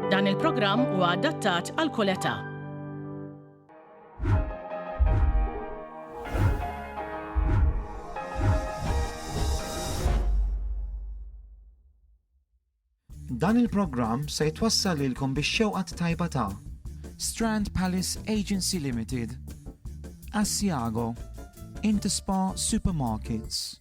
Dan il-programm huwa adattat għal kull età. Dan il-programm se jitwassal lilkom biex xewqat tajba ta' Strand Palace Agency Limited, Asiago, Interspa Supermarkets,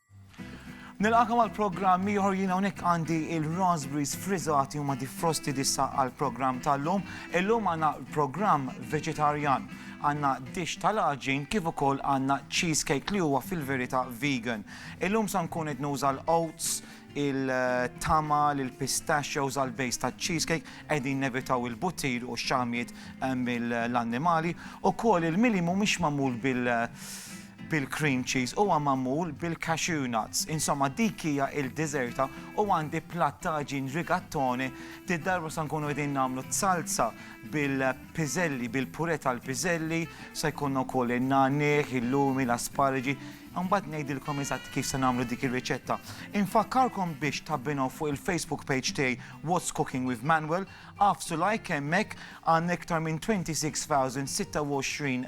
Nilqakom għal programm ieħor jien hawnhekk għandi il-raspberries frizzati huma defrosti dissa għal programm tal-lum. Illum għandna programm veġetarjan. Għandna dish tal-aġin kif ukoll għandna cheesecake li huwa fil-verità vegan. Illum sa nkun qed nuża l-oats, il-tama, il-pistachios għal bejs ta' cheesecake, edin nevitaw il-buttir u xamiet eh, mill-annimali, u kol il-mili mumiex mamul bil- bil-cream cheese, huwa magħmul bil-cashew nuts, insomma dik hija il-diżerta u għandi platt ta' għaġin rigattone, did-darba se nkunu qegħdin nagħmlu t-salsa bil-piżelli, bil-purè tal-piżelli, se jkollna wkoll in-nagħniegħ, il-lumi, l-asparaġi, imbagħad ngħidilkom eżatt kif se nagħmlu dik ir-riċetta. Infakkarkom biex tabbinaw fuq il-Facebook page tiegħi What's Cooking with Manuel, agħfsu like hemmhekk, għandna iktar minn 26,026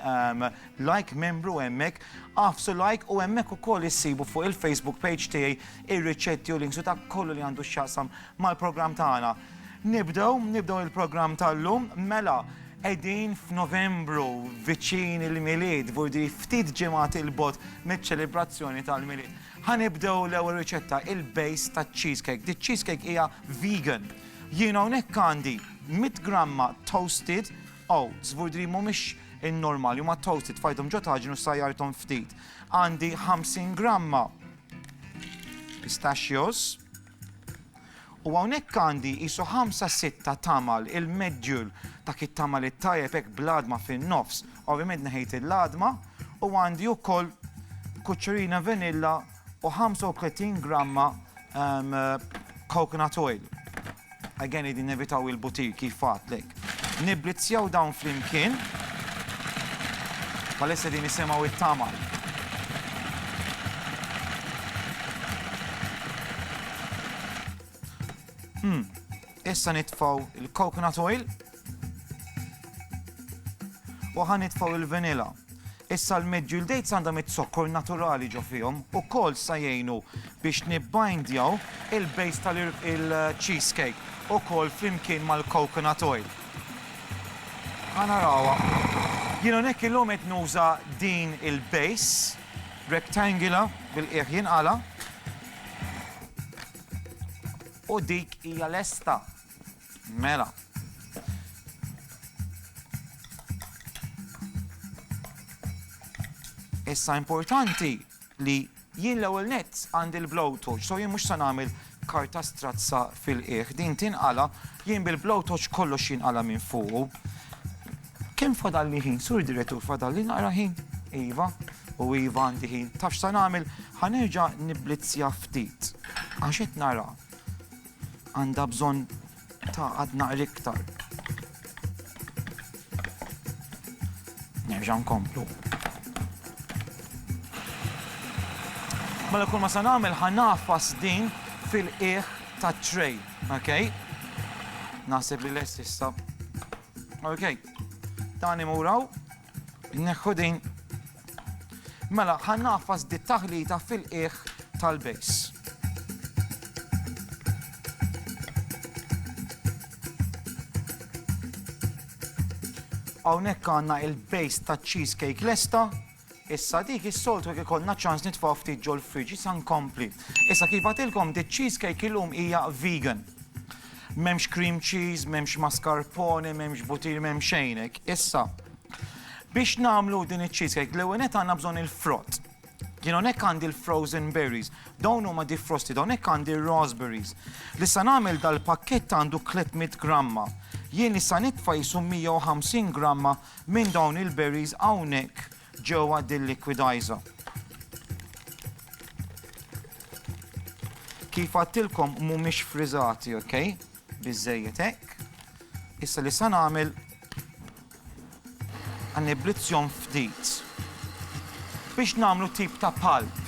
Like membru hemmhekk, agħfsu like u hemmhekk ukoll issibu fuq il-Facebook page tiegħi ir-riċetti u links u dak kollu li għandu x'jaqsam mal-programm tagħna. Nibdew, nibdew il-programm tal-lum, mela qegħdin f'Novembru viċin il-Milied, vurdi ftit ġimgħat il-bot miċ-ċelebrazzjoni tal-Milied. Ħanibdew l-ewwel riċetta il-base taċ-cheesecake. Di cheesecake hija vegan. Jien hawnhekk għandi 100 gramma toasted Oats, żgur li mhumiex in-normali, huma toasted, tfajthom ġo taġin u sajjarthom ftit. Għandi 50 gramma pistachios. U hawnhekk għandi qisu 5-6 tamal il-medjul ta' kit tamal it-tajjeb hekk bl-għadma fin-nofs. Ovvjament neħejt il-għadma u għandi wkoll kuċċerina vanilla u 35 gramma coconut oil. Again qegħdin nevitaw il-butir kif għadtlek. Nibblizzjaw dawn flimkien. Bħalissa din nisimgħu it-tamal. Hmm. Issa nitfgħu l-coconut oil u ħa nitfgħu l-vanilla. Issa l-medjool dates għandhom it-zokkor naturali ġo fihom ukoll sa jgħinu biex nibbindjaw il-base tal-cheesecake ukoll flimkien mal-coconut oil. Ħa narawha. Jien hawnhekk illum qed nuża din il-base rectangular bil-qiegħ jinqala'. U dik hija lesta. Mela. Issa importanti li jien l-ewwel nett għandi l-blowtorch, so jien mhux se nagħmel karta strazza fil-qiegħ. Din tinqala, jien bil-blowtorch kollox jinqala minn fuq. Kemm fadalli ħin, Sur Direttur, fadalli naqra ħin? Iva, u iva għandi ħin. Taf x'sa nagħmel? Ħa nerġa' nibblizzja ftit. Għax qed nara għandha bżonn ta' għad naqra iktar. Nerġa' nkomplu. Mela kull ma sa nagħmel ħa nafas din fil-qiegħ ta' tray, okay? Naħseb li lest issa Ok, tani muraw, neħħu din. Mela, ħan naffas di taħlita fil-qiegħ tal-bejs. Hawnhekk għandna il-bejs ta' cheesecake lesta, Issa dik is-soltu jekk ikollna ċans nitfgħu ftit ġol-friġġ, issa nkompli. Issa kif għadtilkom di cheesecake illum hija vegan. M'hemmx cream cheese, m'hemmx mascarpone, m'hemmx butir, m'hemm xejn hekk. Issa, biex nagħmlu din iċ-cheesecake l-ewwel nett għandna bżonn il-frott. Jien hawnhekk għandi l-frozen berries, dawn huma defrosted, hawnhekk għandi r-raspberries. Li se nagħmel dal-pakkett għandu 300 gramma. Jien issa nitfa' qisu 150 gramma minn dawn il-berries hawnhekk ġewwa dil-liquidizer. Kif għadtilkom mhumiex friżati, ok? Biżżejjed hekk. Issa li se nagħmel ħanniblizzjhom ftit biex nagħmlu tip ta' palp.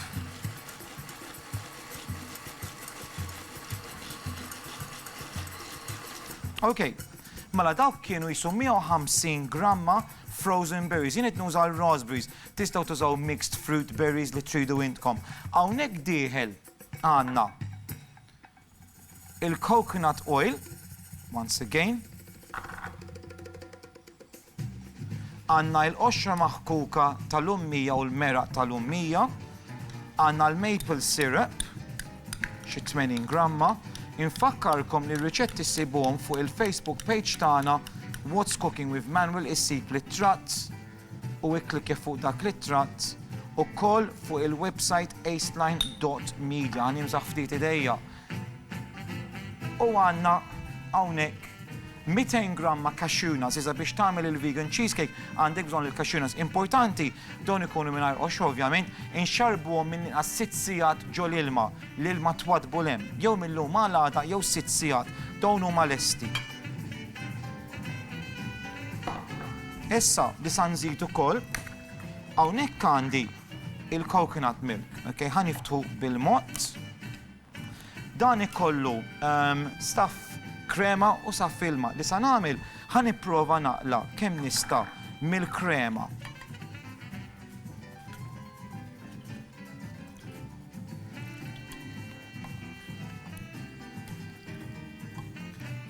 Ok, Mela dawk kienu qishom 150 gramma frozen berries. Jien qed nuża l-raspberries. Tistgħu tużaw mixed fruit berries li tridu intkom. Hawnhekk dieħel għandna il-coconut oil, once again, Għandna l-qoxra maħkuka tal-ummija u l-meraq tal-ummija. Għandna l-maple syrup, xi 80 gramma. Infakkarkom li r-riċetti ssibuhom fuq il-Facebook page tagħna What's Cooking with Manuel issib l-ittratt u ikklikkja fuq dak l-ittratt ukoll fuq il-website aceline.media. Nimsaħ ftit idejja. U għandna hawnhekk 200 gramma cashew nuts, iżda biex tagħmel il-vegan cheesecake għandek bżonn il-cashew nuts. Importanti, dawn ikunu mingħajr qoxra ovvjament, inxarrbuhom minn inqas sitt sigħat ġo l-ilma, l-ilma twaddbu 'l hemm, jew mil-lum għal għada jew sitt sigħat, dawn huma lesti. Issa li sa nżid ukoll, hawnhekk għandi il-coconut milk, ok, ħa niftħu bil-mod. Dan ikollu staff krema u saff ilma. Li sa nagħmel ħa nipprova naqla kemm nista' mill-krema.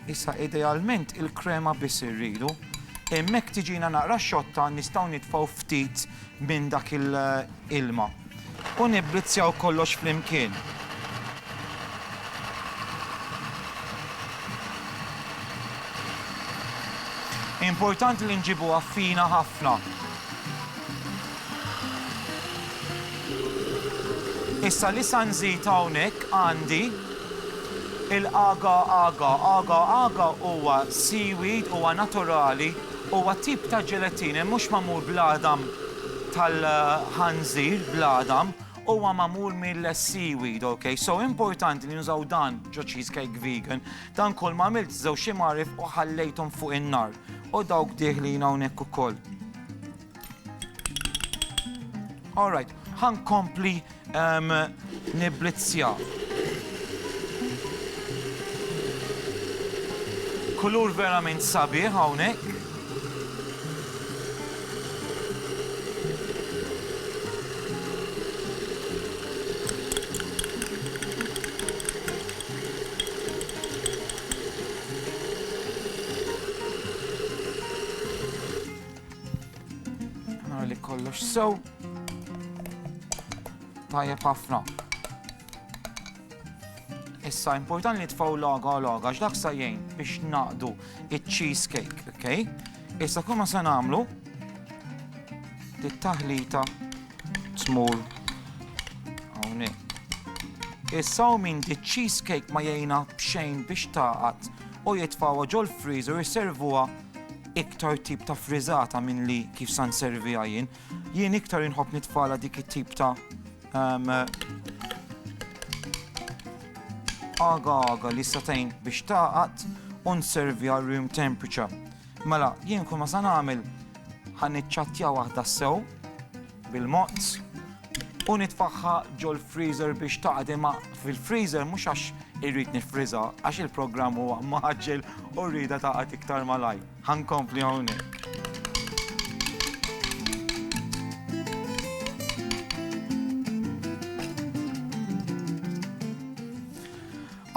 Issa idealment il-krema biss irridu. Hemmhekk tiġina naqra xotta nistgħu nitfgħu ftit minn dak il-ilma. U nibblizzjaw kollox flimkien. Importanti li nġibuha fina ħafna. Issa li sa nżid hawnhekk għandi il-agar agar. Agar agar huwa seaweed, huwa naturali, huwa tip ta' ġelatin, mhux magħmul bl-għadam tal-ħanżir bl-għadam huwa magħmul mill-seaweed, ok? So importanti li nużaw dan ġo cheesecake vegan. Dan kol ma għamilt żewġ imgħarif u ħallejthom fuq in-nar. U dawk diħlin hawnhekk ukoll. Alright, ħankompli Ehm, nibblizzja. Kulur verament sabiħ hawnhekk. Nara li kollox sew. Tajjeb ħafna. Issa, important li tfaw laga u laga, x'dak sa jgħin biex naqdu il-cheesecake, ok? Issa kumma se namlu, dit-taħlita tmur hawnhekk. Issa u minn di cheesecake ma jgħina bxejn biex taqat u jitfawa ġol freezer jisservuha iktar tip ta' frizzata minn li kif san servija jien. Jien iktar inħobb nitfala dik it-tip ta' għaga għaga li satajn biex taqat un servi għal room temperature. Mela, jien kun ma san għamil ħan iċċattja waħda sew bil-mozz u nitfaħħa ġol freezer biex taqat imma fil-freezer mhux għax irrid nifriza għax il-programm huwa maġġel u rrida taqat iktar malaj. Ħa nkompli hawnhekk.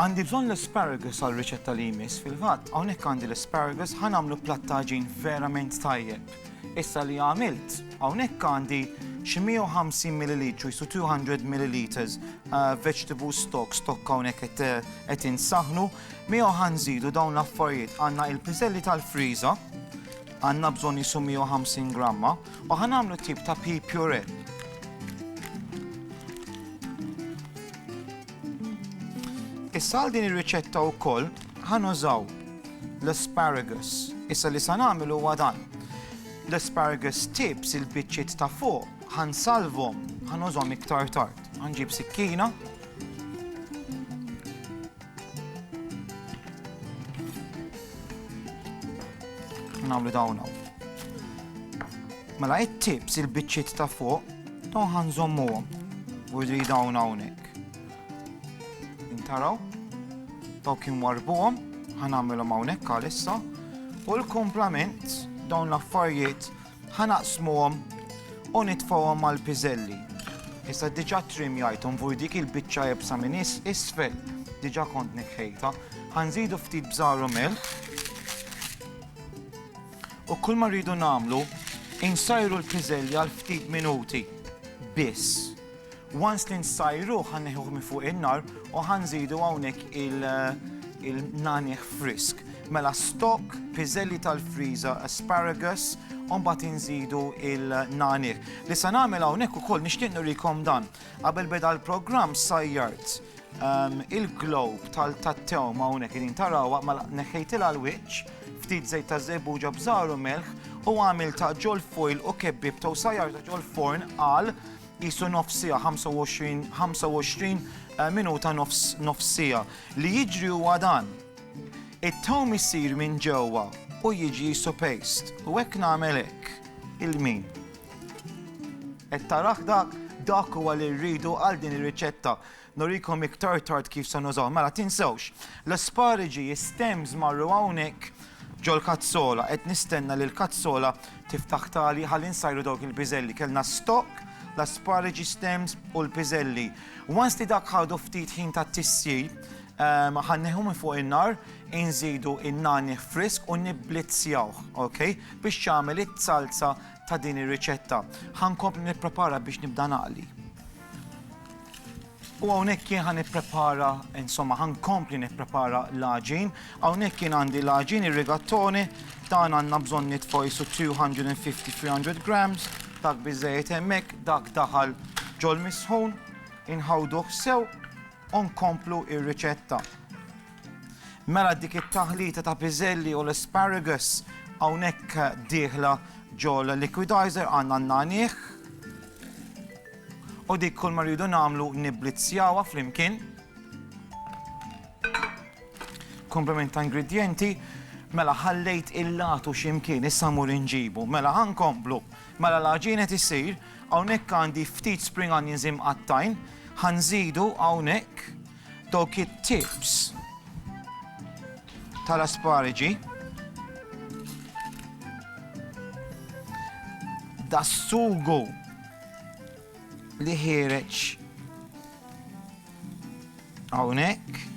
Għandi bżonn l-asparagus għal riċetta li jmiss fil-fatt, hawnhekk għandi l-asparagus ħa nagħmlu plattaġin verament tajjeb. Issa li għamilt, hawnhekk għandi xi 150 ml, jisu 200 ml vegetable stock, stock hawnhekk qed insaħnu, Miegħu ħa nżidu dawn l-affarijiet, għandna il-piżelli tal-friża, għandna bżonn qisu 150 gramma, u ħa nagħmlu tip ta' pea puree. Issa għal din ir-riċetta wkoll ħa nużaw l-asparagus. Issa li sa nagħmel huwa dan. L-asparagus tips il-biċċiet ta' fuq ħa nsalvhom, ħa nużhom iktar tard. Ħanġib sikkina, Nagħmlu dawn hawn. Mela it-tips il-biċċiet ta' fuq dawn ħanżommuhom u jidri dawn hawnhekk. Intaraw, dawk inwarbuhom, ħanagħmilhom hawnhekk għalissa u l-komplament dawn l-affarijiet Ħa naqsmuhom u nitfgħuhom mal-piżelli. Issa diġà trimjajthom fuq dik il-biċċa iebsa minn isfel, diġà kont neħħejtha. Ħa nżidu ftit bżar u milħ. U kull ma rridu nagħmlu, insajru l-piżelli għal ftit minuti biss. Once li nsajruh ħa neħuh minn fuq in-nar u ħa nżidu hawnhekk il-nagħniegħ frisk. Mela stock, piżelli tal-friża, asparagus, u mbagħad inżidu il-nagħniegħ. Li se nagħmel hawnhekk ukoll nixtieq nurikom dan. Qabel beda l-programm sajjart ehm, il-globe tal-tattew ma' hawnhekk irin tarawha ma mela neħħejtilha l-wiċċ ftit żejt ta' żebbuġa bżaru melħ u għamil ta' ġol foil u kebbib ta' sajjar ta' ġol forn għal qisu nofs siegħa 25 25 eh, minuta nofs nofs siegħa. Li jiġri huwa dan. It-tawm isir minn ġewwa u jiġi jisu paste u hekk nagħmel hekk il-min. Qed taraħ dak dak huwa li rridu għal din ir-riċetta. Nurikom iktar tard kif se nużahom. Mela tinsewx, l-aspariġi, is-stems marru hawnhekk ġol-kazzola. Qed nistenna li l-kazzola tiftaħ tali ħalli nsajru dawk il-piżelli. Kellna stock, l-aspariġi, stems u l-piżelli. Once li dak ħadu ftit ħin ta' tissir, ħa nneħħu minn fuq in-nar, inżidu in-nagħni frisk u nibblizzjawh, ok? Biex jagħmel it-salsa ta' din ir-riċetta. Ħa nkompli nipprepara biex nibda naqli. U hawnhekk jien ħa nipprepara, insomma, ħa nkompli nipprepara l-għaġin. Hawnhekk jien għandi l-għaġin ir-rigattoni, dan għandna bżonn nitfgħu jisu 250-300 grams, dak biżejjed hemmhekk, dak daħal ġol-misħun, inħawduh sew u nkomplu r-riċetta. Mela dik it-taħlita ta' piżelli u l-asparagus hawnhekk dieħla ġol-liquidizer għandna n-nagħniegħ, U dik kull ma rridu nagħmlu nibblizzjawha flimkien. Komplement ta' ingredjenti. Mela ħallejt il-latu x'imkien, issa mmur inġibu. Mela ħa nkomplu. Mela l-għaġin qed isir, hawnhekk għandi ftit spring onions imqattgħin, ħa nżidu hawnhekk dawk it-tips tal-aspariġi. Das-sugu li ħireġ hawnhekk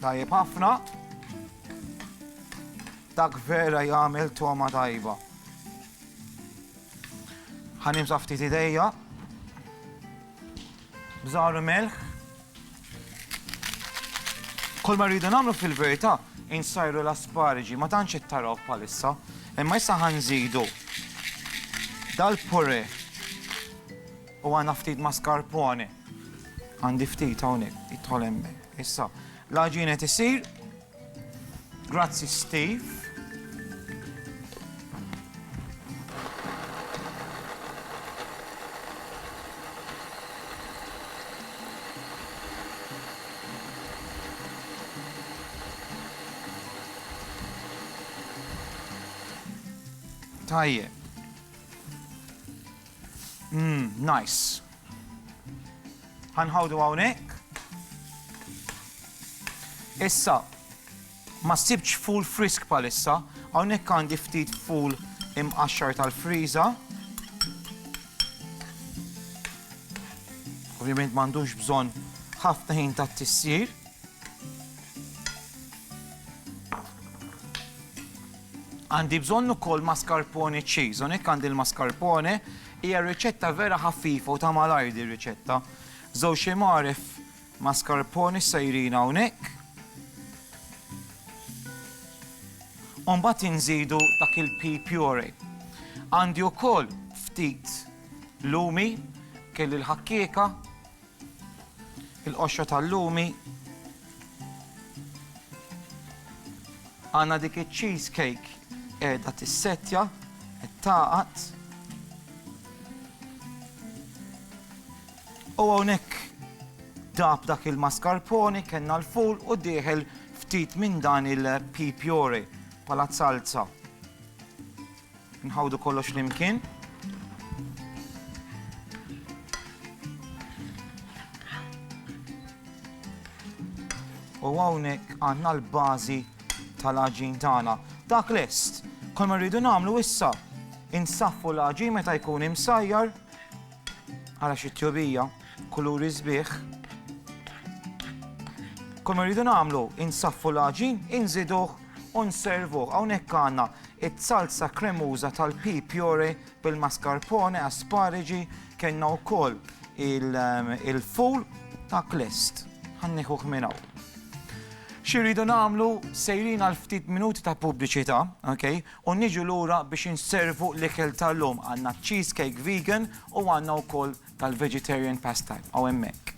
Tajjeb ħafna. Dak vera jagħmel toma tajba. Ħanim ftit idejja. Bżaru melħ. Kull ma rridu nagħmlu fil-verità insajru l-asparġi, ma tantx qed taraw bħalissa, imma issa ħa nżidu dal-purè u għandna ftit mascarpone. Għandi ftit hawnhekk, jidħol hemmhekk. Issa, l-għaġin qed isir. Grazzi Steve. Tajjeb. Mmm, nice. Ħanħawdu hawnhekk. Issa, ma sibx ful frisk palissa, hawnhekk għandi ftit ful imqaxxar tal-friża. Ovvjament m'għandux bżonn ħafna ħin ta' tissir. Għandi bżonn ukoll mascarpone cheese, hawnhekk għandi l-mascarpone Hija riċetta vera ħaffifa u ta' malajr din riċetta. Żewġ imgħaref mascarpone sejrin hawnhekk. U mbagħad inżidu dak il-pea puree. Għandi wkoll ftit lumi, kelli l-ħakkieka, il-qoxra tal-lumi, għandna dik iċ-cheese cake qiegħda tissettja, qed tagħqad. U hawnhekk dab dak il-mascarpone, kellna l-ful u dieħel ftit minn dan il-pea puree bħala salza. Nħawdu kollox flimkien. U hawnhekk għandna l-bażi tal-aġin tagħna. Dak lest, kol ma rridu nagħmlu issa insaffu l-aġin meta jkun imsajjar Ara xi tjubija, kuluri sbieħ. Kull ma rridu nagħmlu, insaffu l-għaġin, inżiduh u nservuh. Hawnhekk għandna it-salsa kremuża tal-pi pjore bil-mascarpone, aspariġi, kellna wkoll ehm, il-ful ta' klest. Ħanniħuh minn hawn. Xi rridu nagħmlu sejrin għal ftit minuti ta' pubbliċità, okay? U niġu lura biex inservu l-ikel tal-lum. Għandna cheese cake vegan u għandna wkoll tal-vegetarian pastime hawn hemmhekk.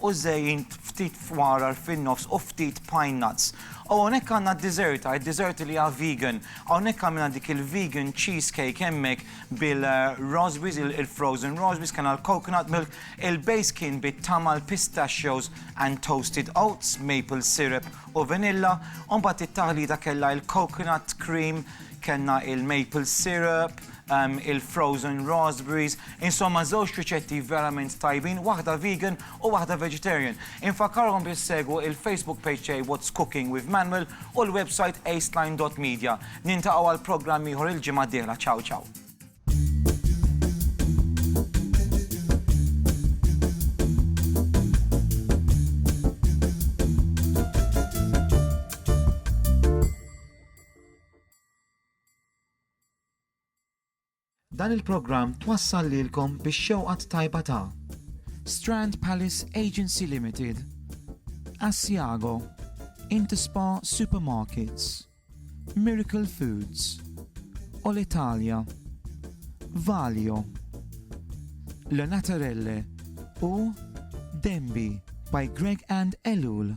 u żejjin ftit fwarar fin-nofs u ftit pine nuts. U hawnhekk għandna d-diżerta, id-diżerta li hija vegan. Hawnhekk għamilna dik il-vegan cheese cake hemmhekk bil-raspberries, il-frozen raspberries, kellna l-coconut milk, il-base kien bit-tama, l-pistachios and toasted oats, maple syrup u vanilla, u mbagħad it-taħlita kellha il-coconut cream, kellna il-maple syrup, il-frozen raspberries, insomma żewġ riċetti verament tajbin, waħda vegan u waħda vegetarian. Infakkarkom biex segwu il-Facebook page tiegħi What's Cooking with Manuel u l-website aceline dot media. Nintaqgħu għal programm ieħor il-ġimgħa d-dieħla. Ciao ciao. Dan il-programm twassal lilkom bix-xewqa t-tajba ta'. Strand Palace Agency Limited, Asiago, Interspa Supermarkets, Miracle Foods, Olitalia, Valio, Le Naturelle u Denby by Greg and Ellul.